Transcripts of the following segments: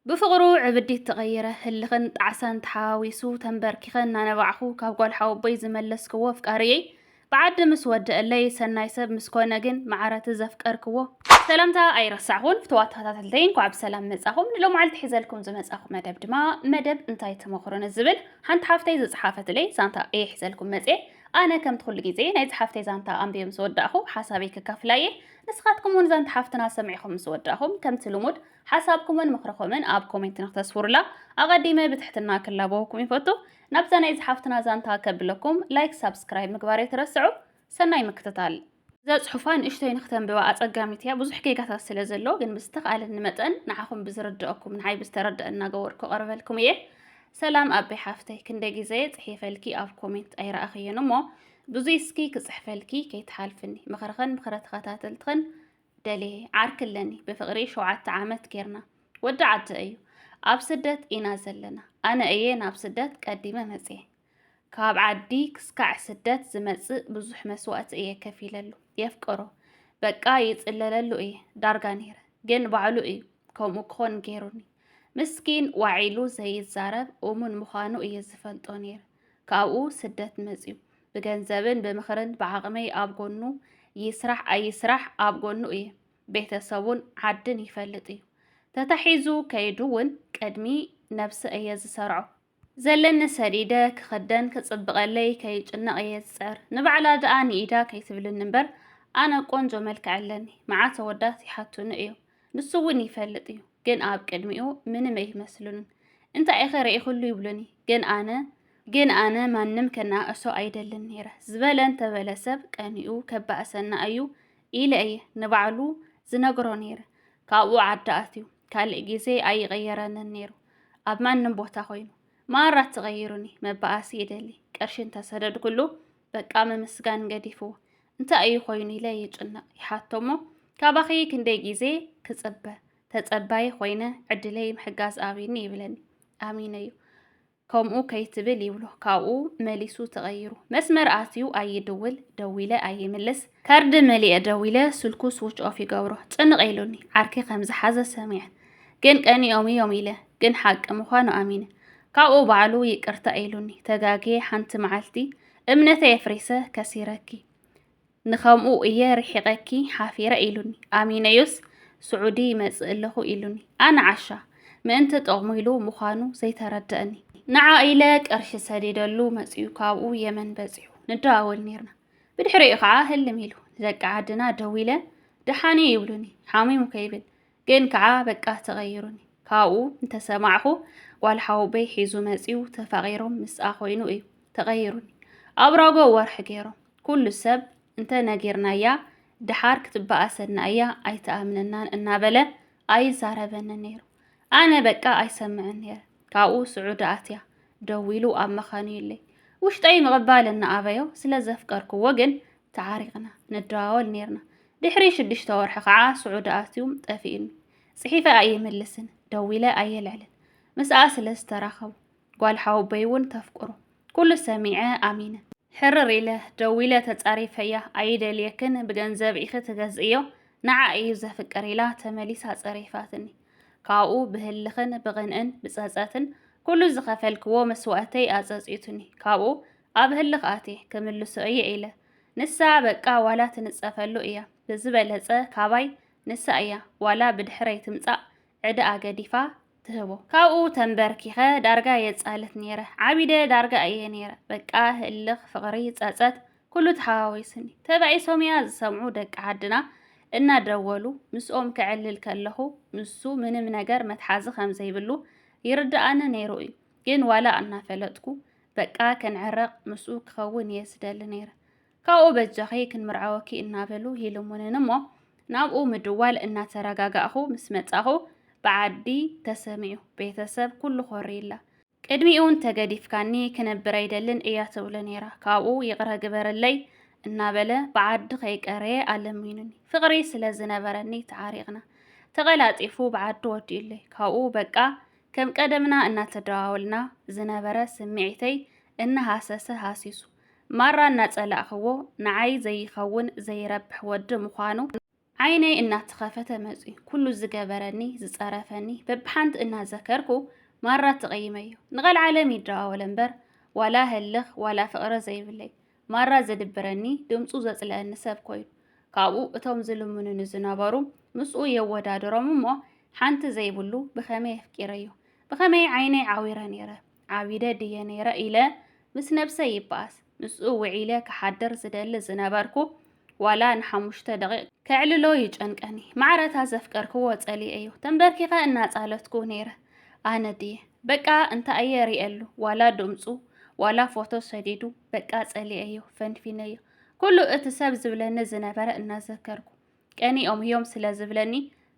ብፍቕሩ ዕብዲት ተቐይረ፣ ህልኽን ጣዕሳን ተሓዋዊሱ፣ ተምበርኪኸ እናነባዕኹ ካብ ጓል ሓወቦይ ዝመለስክዎ ኣፍቃሪየይ፣ ብዓዲ ምስ ወደኣለይ፣ ሰናይ ሰብ ምስ ኮነ ግን መዓረቲ ዘፍቀርክዎ። ሰላምታ ኣይረሳዕኹን ፍቱዋት ተኸታተልተይ እንኳዕ ብሰላም መጻኹም ንሎምዓልቲ ሒዘልኩም ዝመጻኹ መደብ ድማ መደብ እንታይ ትመኽሩ ንዝብል ሓንቲ ሓፍተይ ዝጽሓፈትለይ ዛንታ እየ ሒዘልኩም መጽየ ኣነ ከምቲ ኩሉ ግዜ ናይ ዝሓፍተይ ዛንታ ኣንቢየ ምስ ወዳእኹ ሓሳበይ ክካፍላ እየ ንስኻትኩም እውን ዛንታ ሓፍትና ሰሚዕኹም ምስ ወዳእኹም ከምቲ ልሙድ ሓሳብኩምን ምኽርኹምን ኣብ ኮሜንት ንክተስፍሩላ ኣቐዲመ ብትሕትና ክላበወኩም ይፈቱ። ናብዛ ናይ ዝሓፍትና ዛንታ ከብለኩም ላይክ ሳብስክራይብ ምግባር ኣይትረስዑ። ሰናይ ምክትታል። እዛ ጽሑፋ ንእሽቶይ ንክተንብባ ኣጸጋሚት እያ ብዙሕ ጌጋታት ስለ ዘሎ ግን ብዝተኻእለኒ መጠን ንዓኹም ብዝርድኣኩም ንዓይ ብዝተረድኣ እናገበርኩ ክቐርበልኩም እየ ሰላም ኣቤ ሓፍተይ ክንደይ ግዜ ጽሒፈልኪ ኣብ ኮሜንት ኣይረኣኽዮን እሞ ብዙይ እስኪ ክጽሕፈልኪ ከይትሓልፍኒ ምኽርኽን ምኽረ ተኸታተልትኽን ደልየ ዓርኪ ኣለኒ ብፍቅሪ ሸውዓተ ዓመት ጌርና ወዲ ዓዲ እዩ ኣብ ስደት ኢና ዘለና ኣነ እየ ናብ ስደት ቀዲመ መጽየ ካብ ዓዲ ክስካዕ ስደት ዝመጽእ ብዙሕ መስዋእቲ እየ ከፊለሉ የፍቅሮ በቃ ይጽለለሉ እየ ዳርጋ ነይረ ግን ባዕሉ እዩ ከምኡ ክኾን ገይሩኒ ምስኪን ዋዒሉ ዘይዛረብ እሙን ምዃኑ እየ ዝፈልጦ ነይረ ካብኡ ስደት መፅዩ ብገንዘብን ብምኽርን ብዓቕመይ ኣብ ጎኑ ይስራሕ ኣይስራሕ ኣብ ጎኑ እየ። ቤተሰቡን ዓድን ይፈልጥ እዩ። ተታሒዙ ከይዱ እውን ቅድሚ ነብሰ እየ ዝሰርዖ። ዘለኒ ሰዲደ ክኽደን ክፅብቐለይ ከይጭነቕ እየ ዝፅዕር። ንባዕላ ድኣ ንኢዳ ከይትብልኒ እምበር ኣነ ቆንጆ መልክዕ ኣለኒ። መዓት ኣወዳት ይሓቱኒ እዮም። ንሱ እውን ይፈልጥ እዩ፣ ግን ኣብ ቅድሚኡ ምንም ኣይመስሉንን። እንታይ ኢኸ ርኢኹሉ ይብሉኒ፣ ግን ኣነ ግን ኣነ ማንም ከነኣእሶ ኣይደልን ነይረ። ዝበለ እንተበለ ሰብ ቀኒኡ ከባእሰና እዩ ኢለ እየ ንባዕሉ ዝነግሮ ነይረ። ካብኡ ዓዲ ኣትዩ ካልእ ግዜ ኣይቐየረንን ነይሩ። ኣብ ማንም ቦታ ኮይኑ ማራ ተቐይሩኒ መባኣሲ ይደሊ ቅርሺ እንተሰደድኩሉ በቃ ምምስጋን ገዲፉ እንታይ እዩ ኮይኑ ኢለ ይጭነቕ ይሓቶ እሞ ካባኺ ክንደይ ግዜ ክጽበ ተጸባይ ኮይነ ዕድለይ ምሕጋዝ ኣብኒ ይብለኒ ኣሚነ እዩ ከምኡ ከይትብል ይብሎ ካብኡ መሊሱ ተቐይሩ መስመር ኣትዩ ኣይድውል ደዊለ ኣይምልስ ካርድ መሊኤ ደዊለ ስልኩ ስዊች ኦፍ ይገብሮ ጭንቕ ኢሉኒ ዓርኪ ከም ዝሓዘ ሰሚዐ ግን ቀኒኦም እዮም ኢለ ግን ሓቂ ምዃኑ ኣሚነ ካብኡ ባዕሉ ይቅርታ ኢሉኒ ተጋግየ ሓንቲ መዓልቲ እምነተይ ኣፍሪሰ ከሲረኪ ንከምኡ እየ ርሒቐኪ ሓፊረ ኢሉኒ ኣሚነዮስ ስዑዲ ይመጽእ ኣለኹ ኢሉኒ ኣነ ዓሻ ምእንቲ ጥቕሙ ኢሉ ምዃኑ ዘይተረድአኒ ንዓ ኢለ ቅርሺ ሰዲደሉ መጺኡ ካብኡ የመን በጺሑ ንደዋወል ነርና ብድሕሪኡ ከዓ ህልም ኢሉ ንደቂ ዓድና ደዊለ ደሓን እዩ ይብሉኒ ሓሚሙ ከይብል ግን ከዓ በቃ ተቐይሩኒ ካብኡ እንተሰማዕኹ ጓል ሓውበይ ሒዙ መፂኡ ተፋቒሮም ምስኣ ኮይኑ እዩ ተቐይሩኒ ኣብ ራጎ ወርሒ ገይሮም ኩሉ ሰብ እንተ ነጊርናያ ድሓር ክትበኣሰና እያ ኣይተኣምነናን እናበለ ኣይዛረበንን ነይሩ ኣነ በቃ ኣይሰምዕን ነይረ ካብኡ ስዑዲ ኣትያ ደዊሉ ኣብ መኻኑይለይ ውሽጠይ ምቕባል እናኣበዮ ስለ ዘፍቀርክዎ ግን ተዓሪቕና ንደዋወል ነይርና። ድሕሪ ሽዱሽተ ወርሒ ከዓ ስዑዲ ኣትዩ ጠፊኡኒ። ጽሒፈ ኣይምልስን፣ ደዊለ ኣየልዕልን። ምስኣ ስለ ዝተራኸቡ ጓል ሓወቦይ እውን ተፍቅሮ ኩሉ ሰሚዐ ኣሚነ። ሕርር ኢለ ደዊለ ተጻሪፈያ ኣይደልየክን ብገንዘብ ኢኺ ትገዝእዮ ንዓ እዩ ዘፍቅር ኢላ ተመሊሳ ጸሪፋትኒ። ካብኡ ብህልኽን ብቕንእን ብጸጸትን ኩሉ ዝኸፈልክዎ መስዋእተይ ኣጸጺቱኒ ካብኡ ኣብ ህልኽ ኣትየ ክምልሶ እየ ኢለ ንሳ በቃ ዋላ ትንጸፈሉ እያ ብዝበለጸ ካባይ ንሳ እያ ዋላ ብድሕረይ ትምጻእ ዕዳኣ ገዲፋ ትህቦ ካብኡ ተንበርኪኸ ዳርጋ የጻልት ነይረ ዓቢደ ዳርጋ እየ ነይረ በቃ ህልኽ ፍቕሪ ጸጸት ኩሉ ተሓዋዊስኒ። ተባኢሶም'ያ ዝሰምዑ ደቂ ዓድና እናደወሉ ምስኦም ከዕልል ከለኹ ንሱ ምንም ነገር መትሓዚ ከም ዘይብሉ ይርድኣኒ ነይሩ'ዩ። ግን ዋላ እናፈለጥኩ በቃ ክንዕረቕ ምስኡ ክኸውን'የ ዝደሊ ነይረ። ካብኡ በጃኺ ክንምርዓወኪ እናበሉ ይልሙንኒ'ሞ ናብኡ ምድዋል እናተረጋጋእኹ ምስ መጻኹ ብዓዲ ተሰሚዑ። ቤተሰብ ኩሉ ኮሪላ። ቅድሚኡውን ተገዲፍካኒ ክነብር ኣይደልን እያ ትብሎ ነይራ። ካብኡ ይቕረ ግበረለይ እናበለ ብዓዲ ከይቀረየ ኣለሚኑኒ። ፍቕሪ ስለ ዝነበረኒ ተዓሪቕና። ተቐላጢፉ ብዓዲ ወዲኡለይ። ካብኡ በቃ ከም ቀደምና እናተደዋወልና ዝነበረ ስምዒተይ እናሃሰሰ ሃሲሱ ማራ እናጸላእኽዎ ንዓይ ዘይኸውን ዘይረብሕ ወዲ ምዃኑ ዓይነይ እናተኸፈተ መፅዩ ኩሉ ዝገበረኒ ዝፀረፈኒ በብሓንቲ እናዘከርኩ ማራ ተቐይመዮ ንቐልዓለም ይደዋወለ እምበር ዋላ ህልኽ ዋላ ፍቕሪ ዘይብለይ ማራ ዘድብረኒ ድምፁ ዘፅለአኒ ሰብ ኮይኑ ካብኡ እቶም ዝልምኑኒ ዝነበሩ ምስኡ የወዳድሮም እሞ ሓንቲ ዘይብሉ ብኸመይ ኣፍቂረዮ ብኸመይ ዓይነይ ዓዊረ ነይረ ዓቢደ ድየ ነይረ ኢለ ምስ ነብሰይ ይበኣስ ምስኡ ውዒለ ክሓድር ዝደሊ ዝነበርኩ ዋላ ንሓሙሽተ ደቂቕ ከዕልሎ ይጨንቀኒ። ማዕረ እታ ዘፍቀርክዎ ጸሊኤዮ ተንበርኪኸ እናጻለትኩ ነይረ። ኣነ ድየ በቃ እንታይ'የ ርእየሉ ዋላ ድምጹ ዋላ ፎቶ ሰዲዱ በቃ ጸሊኤዮ ፈንፊነዮ ኩሉ እቲ ሰብ ዝብለኒ ዝነበረ እናዘከርኩ ቀኒኦም'ዮም ስለ ዝብለኒ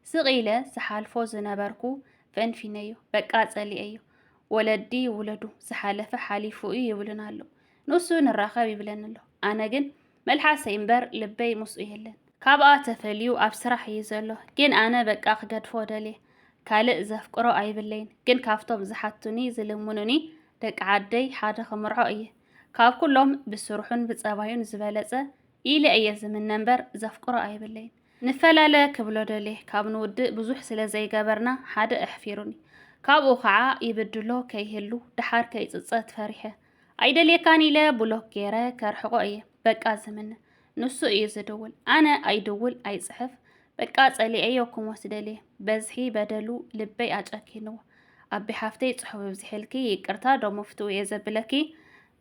ስቕ ኢለ ዝሓልፎ ዝነበርኩ ፈንፊነዮ በቃ ጸሊኤዮ ወለዲ ይውለዱ ዝሓለፈ ሓሊፉ'ዩ ይብሉና ኣሎ ንሱ ንራኸብ ይብለኒ ኣሎ ኣነ ግን መልሓሰይ እምበር ልበይ ምስኡ የለን ካብኣ ተፈልዩ ኣብ ስራሕ እዩ ዘሎ ግን ኣነ በቃ ክገድፎ ደልየ ካልእ ዘፍቅሮ ኣይብለይን ግን ካብቶም ዝሓቱኒ ዝልምኑኒ ደቂ ዓደይ ሓደ ክምርዖ እየ ካብ ኩሎም ብስርሑን ብጸባዩን ዝበለጸ ኢለ እየ ዝምነ እምበር ዘፍቅሮ ኣይብለይን ንፈላለ ክብሎ ደልየ ካብ ንውድእ ብዙሕ ስለ ዘይገበርና ሓደ ኣሕፊሩኒ ካብኡ ከዓ ይብድሎ ከይህሉ ደሓር ከይፅፀት ፈሪሐ ኣይደልየካን ኢለ ብሎክ ገይረ ከርሕቆ እየ በቃ ዝምነ ንሱ እዩ ዝድውል ኣነ ኣይድውል ኣይፅሕፍ በቃ ፀሊኤዮ ክሞት ደልየ በዝሒ በደሉ ልበይ ኣጨኪንዎ ኣቢ ሓፍተይ ፅሑፍ ብዝሕልኪ ይቅርታ ዶ መፍትኡ እየ ዘብለኪ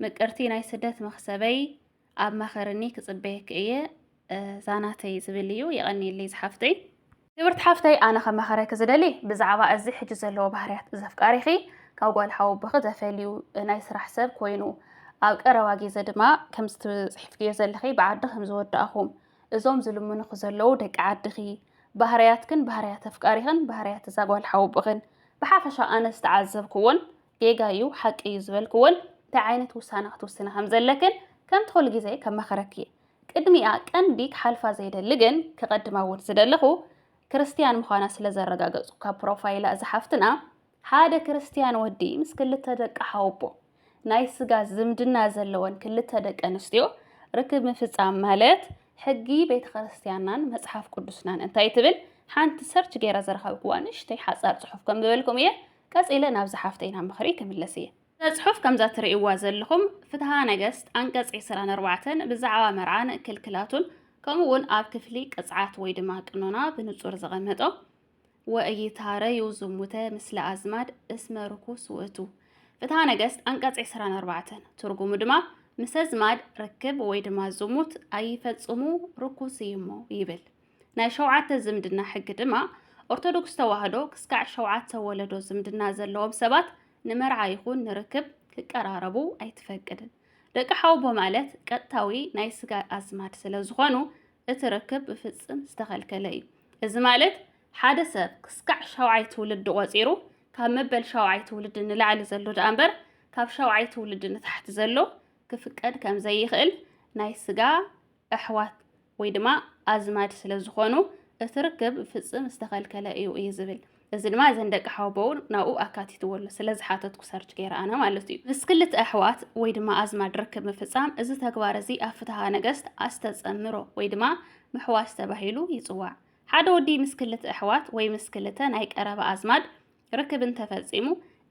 ምቅርቲ ናይ ስደት መክሰበይ ኣብ መኸርኒ ክጽበየኪ እየ ዛናተይ ዝብል እዩ የቐኒየለይ ዝሓፍተይ ክብርቲ ሓፍተይ ኣነ ከመኸረኪ ዝደሊ ብዛዕባ እዚ ሕጂ ዘለዎ ባህርያት ዘፍቃሪኺ ካብ ጓል ሓወቦኺ ተፈልዩ ናይ ስራሕ ሰብ ኮይኑ ኣብ ቀረባ ግዜ ድማ ከምዚ ትጽሕፍክዮ ዘለኺ ብዓዲ ከም ዝወዳእኹም እዞም ዝልምኑኺ ዘለዉ ደቂ ዓድኺ ባህርያትክን ባህርያት ኣፍቃሪኽን ባህርያት እዛ ጓል ሓወቦኽን ብሓፈሻ ኣነ ዝተዓዘብክዎን ጌጋ እዩ ሓቂ እዩ ዝበልክዎን እንታይ ዓይነት ውሳነ ክትውስነ ከም ዘለክን ከምቲ ኩሉ ግዜ ከማኽረኪ እየ ቅድሚኣ ቀንዲ ክሓልፋ ዘይደሊ ግን ክቐድማ እውን ዝደለኹ ክርስትያን ምዃና ስለ ዘረጋገጹ ካብ ፕሮፋይላ እዛ ሓፍትና ሓደ ክርስትያን ወዲ ምስ ክልተ ደቂ ሓወቦ ናይ ስጋ ዝምድና ዘለወን ክልተ ደቂ ኣንስትዮ ርክብ ምፍጻም ማለት ሕጊ ቤተ ክርስትያንናን መጽሓፍ ቅዱስናን እንታይ ትብል ሓንቲ ሰርች ገይረ ዝረኸብክዋ ንእሽተይ ሓጻር ጽሑፍ ከም ዝበልኩም እየ ቀጺለ ናብ ዝሓፍተይና ምኽሪ ክምለስ እየ። እዛ ጽሑፍ ከምዛ ትርእይዋ ዘለኹም ፍትሃ ነገስት ኣንቀጽ ዕስራን ኣርባዕተን ብዛዕባ መርዓን ክልክላቱን ከምኡ እውን ኣብ ክፍሊ ቅጽዓት ወይ ድማ ቅኖና ብንጹር ዘቐመጦ ወእይታረዩ ዝሙተ ምስለ ኣዝማድ እስመ ርኩስ ውእቱ ፍትሃ ነገስት ኣንቀጽ ዕስራን ኣርባዕተን ትርጉሙ ድማ ምሰ ኣዝማድ ርክብ ወይ ድማ ዝሙት ኣይፈጽሙ ርኩስ እዩሞ ይብል። ናይ ሸውዓተ ዝምድና ሕጊ ድማ ኦርቶዶክስ ተዋህዶ ክስካዕ ሸውዓተ ወለዶ ዝምድና ዘለዎም ሰባት ንመርዓ ይኹን ንርክብ ክቀራረቡ ኣይትፈቅድን። ደቂ ሓውቦ ማለት ቀጥታዊ ናይ ስጋ ኣዝማድ ስለ ዝኾኑ እቲ ርክብ ብፍጽም ዝተኸልከለ እዩ። እዚ ማለት ሓደ ሰብ ክስካዕ ሻውዓይ ትውልዲ ቆጺሩ ካብ መበል ሻውዓይ ትውልዲ ንላዕሊ ዘሎ ደኣ እምበር ካብ ሻውዓይ ትውልዲ ንታሕቲ ዘሎ ክፍቀድ ከም ዘይኽእል ናይ ስጋ ኣሕዋት ወይ ድማ ኣዝማድ ስለ ዝኾኑ እቲ ርክብ ፍጽም ዝተኸልከለ እዩ እዩ ዝብል። እዚ ድማ እዘን ደቂ ሓወቦኡ ናብኡ ኣካቲትዎ ኣሎ ስለ ዝሓተትኩ ሰርች ገይረ ኣነ ማለት እዩ። ምስ ክልተ ኣሕዋት ወይ ድማ ኣዝማድ ርክብ ምፍጻም እዚ ተግባር እዚ ኣብ ፍትሃ ነገስት ኣስተጸምሮ ወይ ድማ ምሕዋስ ተባሂሉ ይጽዋዕ። ሓደ ወዲ ምስ ክልተ ኣሕዋት ወይ ምስ ክልተ ናይ ቀረባ ኣዝማድ ርክብ እንተፈጺሙ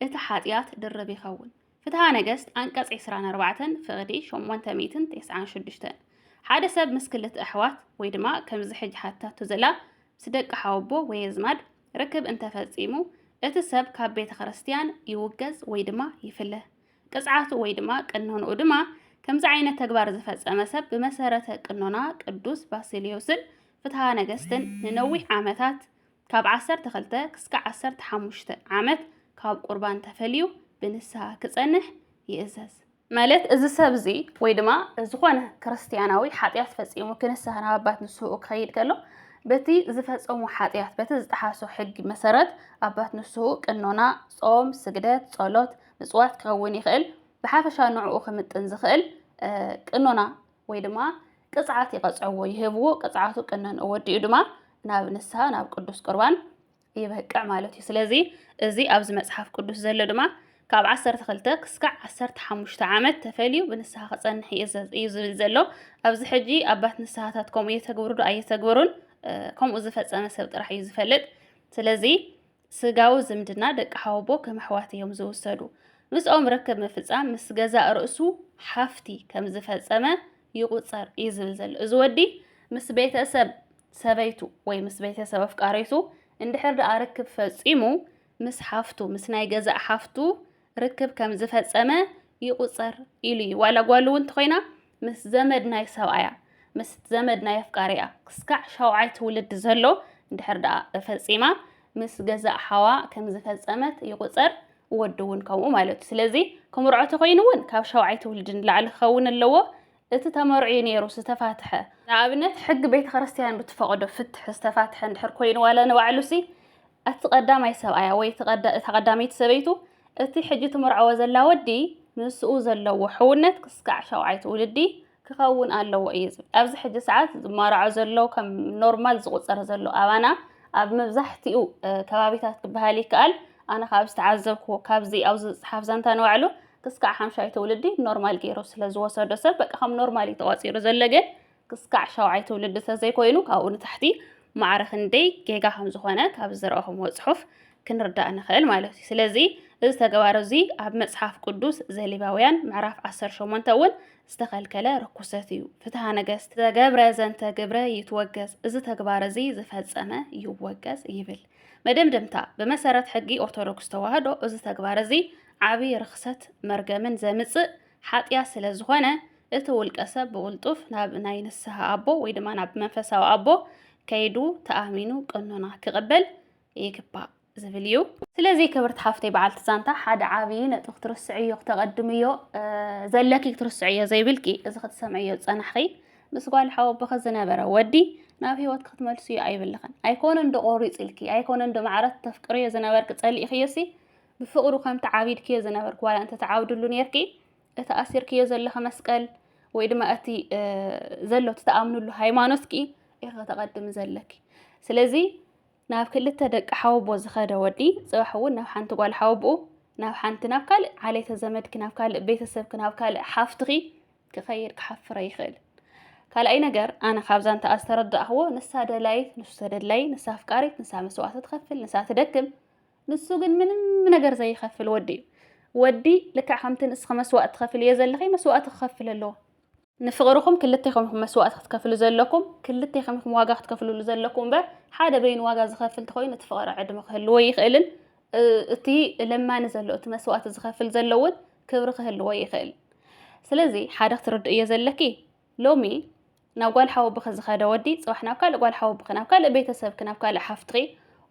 እቲ ሓጥያት ድርብ ይኸውን። ፍትሃ ነገስት ኣንቀጽ ዕስራን ኣርባዕተን ፍቕዲ ሸሞንተ ሚእትን ተስዓን ሽዱሽተን ሓደ ሰብ ምስ ክልተ ኣሕዋት ወይ ድማ ከምዚ ሕጂ ሓቲታቶ ዘላ ምስ ደቂ ሓወቦ ወይ ኣዝማድ ርክብ እንተ ፈጺሙ እቲ ሰብ ካብ ቤተ ክርስትያን ይውገዝ ወይ ድማ ይፍለ። ቅጽዓቱ ወይ ድማ ቅኖንኡ ድማ ከምዚ ዓይነት ተግባር ዝፈጸመ ሰብ ብመሰረተ ቅኖና ቅዱስ ባሲልዮስን ፍትሃ ነገስትን ንነዊሕ ዓመታት ካብ ዓሰርተ ክልተ ክስካዕ ዓሰርተ ሓሙሽተ ዓመት ካብ ቁርባን ተፈልዩ ብንስሃ ክጸንሕ ይእዘዝ። ማለት እዚ ሰብ እዚ ወይ ድማ ዝኾነ ክርስትያናዊ ሓጢኣት ፈጺሙ ክንስሃ ናብ ኣባት ንስህኡ ክኸይድ ከሎ በቲ ዝፈጸሙ ሓጢኣት በቲ ዝጠሓሶ ሕጊ መሰረት ኣባት ንስህኡ ቅኖና፣ ጾም፣ ስግደት፣ ጸሎት፣ ምጽዋት ክኸውን ይኽእል። ብሓፈሻ ንዕኡ ክምጥን ዝኽእል ቅኖና ወይ ድማ ቅፅዓት ይቐፅዕዎ ይህብዎ ቅፅዓቱ ቅነንኡ ወዲኡ ድማ ናብ ንስሃ ናብ ቅዱስ ቁርባን ይበቅዕ ማለት እዩ ስለዚ እዚ ኣብዚ መጽሓፍ ቅዱስ ዘሎ ድማ ካብ 12 ክስካዕ 15 ዓመት ተፈልዩ ብንስሓ ክጸንሕ እዩ ዝብል ዘሎ ኣብዚ ሕጂ ኣባት ንስሓታት ከምኡ የተግብሩ ዶ ኣየተግብሩን ከምኡ ዝፈጸመ ሰብ ጥራሕ እዩ ዝፈልጥ ስለዚ ስጋዊ ዝምድና ደቂ ሓወቦ ከም ኣሕዋት እዮም ዝውሰዱ። ምስኦም ርክብ ምፍጻም ምስ ገዛእ ርእሱ ሓፍቲ ከም ዝፈጸመ ይቑጸር እዩ ዝብል ዘሎ እዚ ወዲ ምስ ቤተሰብ ሰበይቱ ወይ ምስ ቤተሰብ ኣፍቃሪቱ እንድሕር ደኣ ርክብ ፈጺሙ ምስ ሓፍቱ ምስ ናይ ገዛእ ሓፍቱ ርክብ ከም ዝፈጸመ ይቑጸር ኢሉ እዩ። ዋላ ጓሉ እውን እንተኾይና ምስ ዘመድ ናይ ሰብኣያ ምስ ዘመድ ናይ ኣፍቃሪኣ ክስካዕ ሻውዓይ ትውልድ ዘሎ እንድሕር ደኣ ፈጺማ ምስ ገዛእ ሓዋ ከም ዝፈጸመት ይቑጸር ወዲ እውን ከምኡ ማለት እዩ። ስለዚ ክምርዖ ተኾይኑ እውን ካብ ሻውዓይ ትውልድ ንላዕሊ ክኸውን ኣለዎ። እቲ ተመርዑ እዩ ነይሩ ዝተፋትሐ። ንኣብነት ሕጊ ቤተ ክርስቲያን ብትፈቕዶ ፍትሕ ዝተፋትሐ እንድሕር ኮይኑ ዋላ ንባዕሉሲ እቲ ቀዳማይ ሰብኣያ ወይ እታ ቀዳመይቲ ሰበይቱ እቲ ሕጂ ትምርዐዎ ዘላ ወዲ ምስኡ ዘለዎ ሕውነት ክስካዕ ሸውዓይ ትውልዲ ክኸውን ኣለዎ እዩ ዝብል። ኣብዚ ሕጂ ሰዓት ዝማራዖ ዘሎ ከም ኖርማል ዝቑፀር ዘሎ ኣባና ኣብ መብዛሕትኡ ከባቢታት ክበሃል ይከኣል ኣነ ካብ ዝተዓዘብኩዎ ካብዚ ኣብዚ ዝፅሓፍ ዛንታ ንባዕሉ ክስካዕ ሓምሻይ ትውልዲ ኖርማል ገይሩ ስለ ዝወሰዶ ሰብ በቃ ከም ኖርማል እዩ ተቆፂሩ ዘሎ ግን ክስካዕ ሻውዓይ ትውልዲ ተዘይኮይኑ ካብኡ ንታሕቲ ማዕረ ክንደይ ጌጋ ከም ዝኾነ ካብ ዝረእኹምዎ ፅሑፍ ክንርዳእ ንኽእል ማለት እዩ ስለዚ እዚ ተግባር እዚ ኣብ መፅሓፍ ቅዱስ ዘሌባውያን ምዕራፍ 18 እውን ዝተኸልከለ ርኩሰት እዩ። ፍትሃ ነገስት ዘገብረ ዘንተ ግብረ ይትወገዝ፣ እዚ ተግባር እዚ ዝፈጸመ ይወገዝ ይብል። መደምደምታ ብመሰረት ሕጊ ኦርቶዶክስ ተዋህዶ እዚ ተግባር እዚ ዓቢ ርኽሰት መርገምን ዘምጽእ ሓጥያት ስለ ዝኾነ እቲ ውልቀ ሰብ ብቕልጡፍ ናብ ናይ ንስሃ ኣቦ ወይ ድማ ናብ መንፈሳዊ ኣቦ ከይዱ ተኣሚኑ ቅኖና ክቕበል ይግባእ ዝብል እዩ። ስለዚ ክብርቲ ሓፍተይ በዓልቲ ዛንታ ሓደ ዓብዪ ነጥቢ ክትርስዕዮ ክተቐድምዮ ዘለኪ ክትርስዕዮ ዘይብልኪ እዚ ክትሰምዕዮ ዝጸናሕኺ ምስ ጓል ሓወቦኺ ዝነበረ ወዲ ናብ ህይወት ክትመልስዮ ኣይብልኽን ኣይኮነን ዶ ቆሪጽልኪ ኣይኮነን ዶ ማዕረት ተፍቅርዮ ዝነበርኪ ጸሊእኽዮሲ ብፍቕሩ ከም ተዓቢድክዮ ዝነበርኪ ዋላ እንተ ተዓብድሉ ኔርኪ እቲ ኣሲርክዮ ዘለኺ መስቀል ወይ ድማ እቲ ዘሎ እቲ ተኣምንሉ ሃይማኖትኪ ኢኺ ከተቐድሚ ዘለኪ ስለዚ ናብ ክልተ ደቂ ሓወቦ ዝኸደ ወዲ ጽባሕ እውን ናብ ሓንቲ ጓል ሓወቦኡ ናብ ሓንቲ ናብ ካልእ ዓሌተ ዘመድኪ ናብ ካልእ ቤተሰብኪ ናብ ካልእ ሓፍትኺ ክኸይድ ክሓፍረ ይኽእል ካልኣይ ነገር ኣነ ካብዛ እንተኣ ዝተረዳእኽዎ ንሳ ደላይት ንሱ ተደላይ ንሳ ኣፍቃሪት ንሳ መስዋእቲ ትኸፍል ንሳ ትደክም ንሱ ግን ምንም ነገር ዘይኸፍል ወዲ እዩ። ወዲ ልክዕ ከምቲ ንስኺ መስዋእቲ ትኸፍልዮ ዘለኺ መስዋእቲ ክኸፍል ኣለዎ። ንፍቕርኹም ክልቴኹም ኢኹም መስዋእቲ ክትከፍሉ ዘለኩም፣ ክልቴኹም ኢኹም ዋጋ ክትከፍልሉ ዘለኩም እምበር ሓደ በይኑ ዋጋ ዝኸፍል እንተኾይኑ እቲ ፍቕሪ ዕድመ ክህልዎ ኣይኽእልን። እቲ ለማኒ ዘሎ እቲ መስዋእቲ ዝኸፍል ዘሎ እውን ክብሪ ክህልዎ ይኽእል። ስለዚ ሓደ ክትርድእዮ ዘለኪ ሎሚ ናብ ጓል ሓወብኺ ዝኸደ ወዲ ጽባሕ ናብ ካልእ ጓል ሓወብኺ ናብ ካልእ ቤተሰብኪ ናብ ካልእ ሓፍትኺ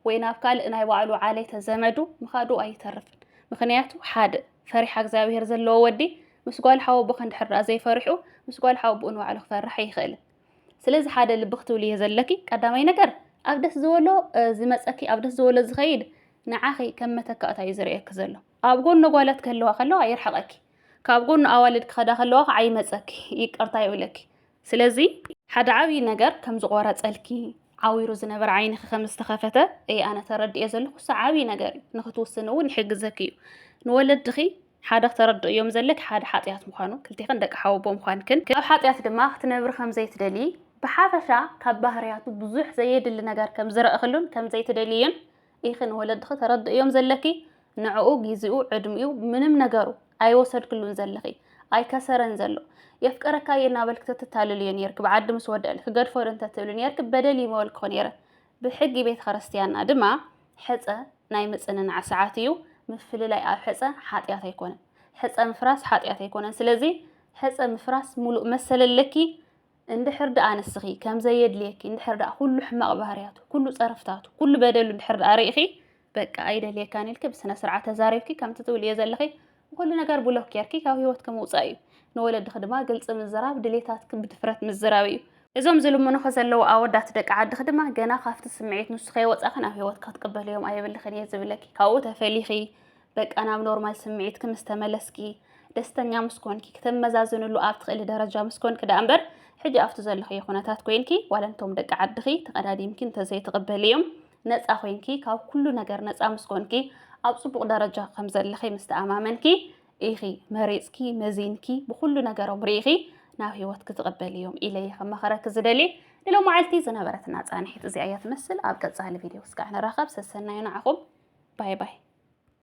ወይ ናብ ካልእ ናይ ባዕሉ ዓሌተ ዘመዱ ምኻዱ ኣይተርፍን ምኽንያቱ ሓደ ፈሪሓ እግዚኣብሄር ዘለዎ ወዲ ምስ ጓል ሓወብኺ እንድሕር ደኣ ዘይፈሪሑ ምስ ጓል ሓወብኡ ንባዕሉ ክፈርሕ ኣይኽእልን ስለዚ ሓደ ልቢ ክትብሉ እየ ዘለኪ ቀዳማይ ነገር ኣብ ደስ ዝበሎ ዝመፀኪ ኣብ ደስ ዝበሎ ዝኸይድ ንዓኺ ከም መተካእታ እዩ ዝርእየኪ ዘሎ ኣብ ጎኒ ጓላት ክህልዋ ከለዋ የርሕቐኪ ካብ ጎኑ ኣዋልድ ክኸዳ ከለዋ ከዓ ይመፀኪ ይቅርታ ይብለኪ ስለዚ ሓደ ዓብዪ ነገር ከም ዝቆረፀልኪ ዓዊሩ ዝነበረ ዓይንኺ ከም ዝተኸፈተ እየ ኣነ ተረድኤ ዘለኹ እሱ ዓብዪ ነገር እዩ ንክትውስኒ እውን ይሕግዘኪ እዩ ንወለድኺ ሓደ እዮም ዘለክ ሓደ ሓጢኣት ምዃኑ ክልቴክን ደቂ ሓወቦ ምዃንክን ኣብ ሓጢኣት ድማ ክትነብሪ ከም ዘይትደሊ ብሓፈሻ ካብ ባህርያቱ ብዙሕ ዘየድሊ ነገር ከም ዝረእክሉን ከም ዘይትደልይን ኢኺ ንወለድኺ ተረድእዮም ዘለኪ ንዕኡ ጊዚኡ ዕድሚኡ ምንም ነገሩ ኣይወሰድክሉን ዘለኺ ኣይከሰረን ዘሎ የፍቅረካ እየ እናበልኪ ተተታልልዮ ኔርኪ ብዓዲ ምስ ወደእል ክገድፎ ዶ እንተትብሊ ኔርኪ በደል እዩ ምበልክኹ ኔረ ብሕጊ ቤተ ክርስትያንና ድማ ሕፀ ናይ ምፅንናዕ ሰዓት እዩ ምፍልላይ ኣብ ሕፀ ሓጢኣት ኣይኮነን ሕፀ ምፍራስ ሓጢኣት ኣይኮነን ስለዚ ሕፀ ምፍራስ ሙሉእ መሰል ኣለኪ እንድሕር ደኣ ንስኺ ከም ዘየድልየኪ እንድሕር ደኣ ኩሉ ሕማቕ ባህርያቱ፣ ኩሉ ጸርፍታቱ፣ ኩሉ በደሉ እንድሕር ደኣ ርኢኺ በቃ ኣይደልየካን ኢልኪ ብስነ ስርዓት ተዛሪብኪ ከምቲ ትብልዮ ዘለኺ ንኹሉ ነገር ብሎክ ጌርኪ ካብ ህይወትኪ ምውጻእ እዩ። ንወለድኺ ድማ ግልጺ ምዝራብ፣ ድሌታትኪ ብድፍረት ምዝራብ እዩ። እዞም ዝልምኑኺ ዘለዉ ኣወዳት ደቂ ዓድኺ ድማ ገና ካብቲ ስምዒት ንሱ ከይወጻኺ ናብ ህይወትኪ ክትቅበልዮም ኣየብልክን እየ ዝብለኪ። ካብኡ ተፈሊኺ በቃ ናብ ኖርማል ስምዒትኪ ምስ ተመለስኪ ደስተኛ ምስ ኮንኪ ክተመዛዝንሉ ኣብ ትኽእሊ ደረጃ ምስ ኮንኪ ደኣ እምበር ሕጂ ኣብቲ ዘለኽዮ ኩነታት ኮይንኪ ዋላ እንቶም ደቂ ዓድኺ ተቐዳዲምኪ እንተዘይትቕበልዮም ነፃ ኮይንኪ ካብ ኩሉ ነገር ነፃ ምስ ኮንኪ ኣብ ፅቡቕ ደረጃ ከም ዘለኺ ምስ ተኣማመንኪ ኢኺ መሪፅኪ መዚንኪ ብኩሉ ነገሮም ርኢኺ ናብ ህይወት ክትቕበል እዮም ኢለ እየ ከመኸረኪ ዝደሊ ንሎ መዓልቲ ዝነበረትና ፃንሒት እዚኣ እያ ትመስል ኣብ ቀፃሊ ቪድዮ ስጋዕ ንራኸብ ሰሰናዩ ንዓኹም ባይ ባይ